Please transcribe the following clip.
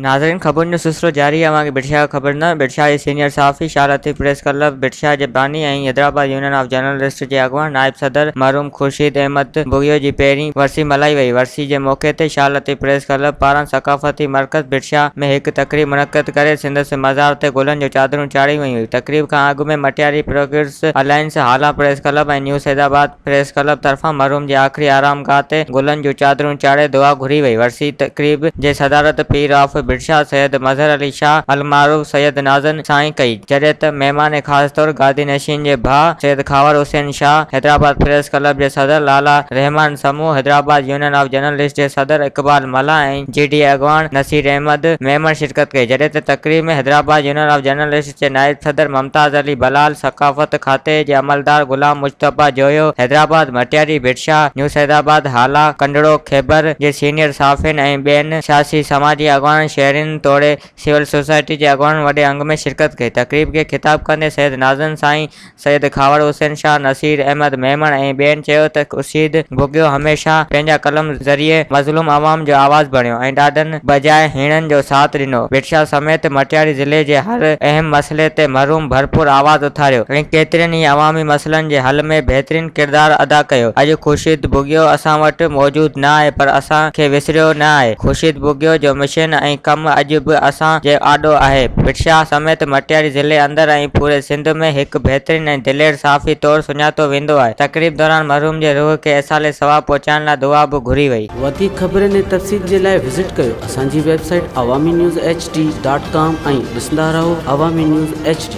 ناظرين خبرن جو سلسلو جاري اوهان کي بڊشاهه جو خبر نه بڊشاهه جي سينيئر صحافي شاهه لطيف پريس ڪلب بڊشاهه جي باني ۽ حيدرآباد يونين آف جرنلسٽ جي اڳواڻ نائب صدر مرحوم خورشيد احمد بگيو جي پهرين ورسي ملهائي وئي ورسي جي موقعي تي شاهه لطيف پريس ڪلب پاران ثقافتي مرڪز بڊشاهه ۾ هڪ تقريب منعقد ڪري سندس مزار تي گلن جو چادرون چاڙهيون ويون تقريب کان اڳ ۾ Matiari progress alliance Hala press club ۽ new Saidabad press club طرفان مرحوم جي آخري آرام گاهه تي گلن جون چادرون چاڙهي دعا گهري وئي ورسي تقريب جي صدارت پير آف بڊشاهه سيد مظهر علي شاهه المعروف سيد نازن سائين ڪئي جڏهن ته مهمان خاص طور گادي نشين جي ڀاء سيد خاور حسين شاهه حيدرآباد پريس ڪلب جي صدر Lala Rehman Samoon Hyderabad union of journalist جي صدر اقبال ملاح ۽ جي ڊي اي اڳواڻ نصير احمد ميمڻ شرڪت ڪئي جڏهن ته تقريب ۾ حيدرآباد يونين آف جرنلسٽ جي نائب صدر ممتاز علي بلال، ثقافت کاتي جي عملدار غلام مجتبيٰ جويو، حيدرآباد مٽياري ڀٽشاهه، نيوز حيدرآباد هالا، ڪنڊڙو خيبر جي سينيئر صحافين ۽ ٻين سياسي سماجي اڳواڻن، شهرين توڙي سول سوسائٽي جي اڳواڻن وڏي انگ ۾ شرڪت ڪئي. تقريب کي خطاب ڪندي سيد ناظرن سائين سيد کهاوڙ حسين شاهه، نصير احمد ميمڻ ۽ ٻين چيو ته خورشيد گوگيو هميشه پنهنجا قلم ذريعي مظلوم عوام جو آواز بڻيو ۽ ڏاڍن بجاء هيڻن جو ساٿ ڏنو، ڀٽشاهه سميت مٽياري ضلعي جي هر اهم مسئلي تي مرحوم ڀرپور آواز اٿاريو ۽ ڪيترن ئي عوامي مسئلن جي حل ۾ بهترين ڪردار ادا ڪيو، اڄ خورشيد بوگيو اسان وٽ موجود نه آهي پر اسان کي وسريو نه آهي، خورشيد بوگيو جو مشن ۽ ڪم اڄ به اسان جي آڏو آهي، ڀٽشاهه سميت مٽياري ضلعي اندر ۽ پوري سنڌ. سنڌ ۾ هڪ بهترين ۽ دلير صحافي طور سڃاتو ويندو آهي. تقريب دوران مرحوم جي روح کي ايصال ثواب پهچائڻ لاء دعا به گهري وئي. وڌيڪ خبرن ۽ تفصيل جي لاء وزٽ ڪيو اسان جي website Awami news H D dot com ۽ ڏسندا رهو عوامي نيوز ايڇ ڊي.